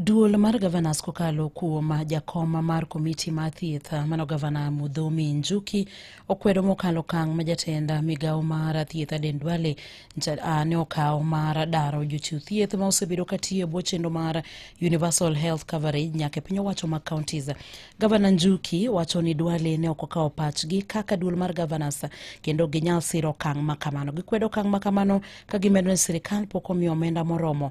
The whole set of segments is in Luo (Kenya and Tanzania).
Duol mar gavanas kokalo kuom jakom mar komiti mar thieth mano gavana Mudhomi Njuki okwedo mokalo kang ma jatend migawo mar thieth Aden Duale ne okawo mar daro jochiw thieth ma osebedo ka tiyo e bwo chenro mar Universal Health Coverage nyaka e piny owacho mag counties. Gavana Njuki wacho ni Duale ne ok okawo pachgi kaka duol mar gavanas kendo ginyal siro okang' ma kamano. Gikwedo okang' ma kamano ka gimedo ni sirikal pok omiyo omenda moromo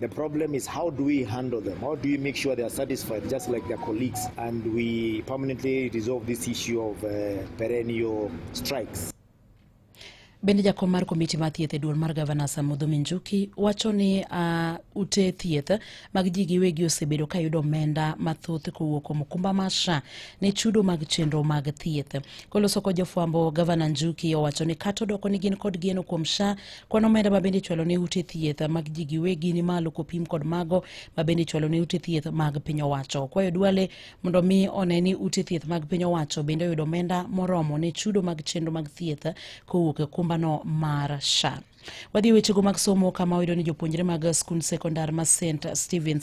The problem is how do we handle them? How do we make sure they are satisfied just like their colleagues and we permanently resolve this issue of uh, perennial strikes? Bende jakom mar komiti mar thieth e duol mar gavana Samudho Minjuki wacho ni uh, ute thieth mag ji giwegi osebedo ka yudo omenda mathoth kowuok kuom okumba mar SHA ne chudo mag chenro mag thieth. Koloso kod jofwambo, gavana Njuki owacho ni kata odoko ni gin kod geno kuom SHA Kwan omenda ma bende ichwalo ne ute thieth mag ji giwegi ni malo kopim kod mago ma bende ichwalo ne ute thieth mag piny owacho. Kwayo Duale mondo mi one ni ute thieth mag piny owacho bende oyudo omenda moromo ne chudo mag chenro mag thieth kowuok e kumbano mar SHA. Wadhi e wechego mag somo kama oyudo ni jopuonjre mag skund sekondar ma St Stevens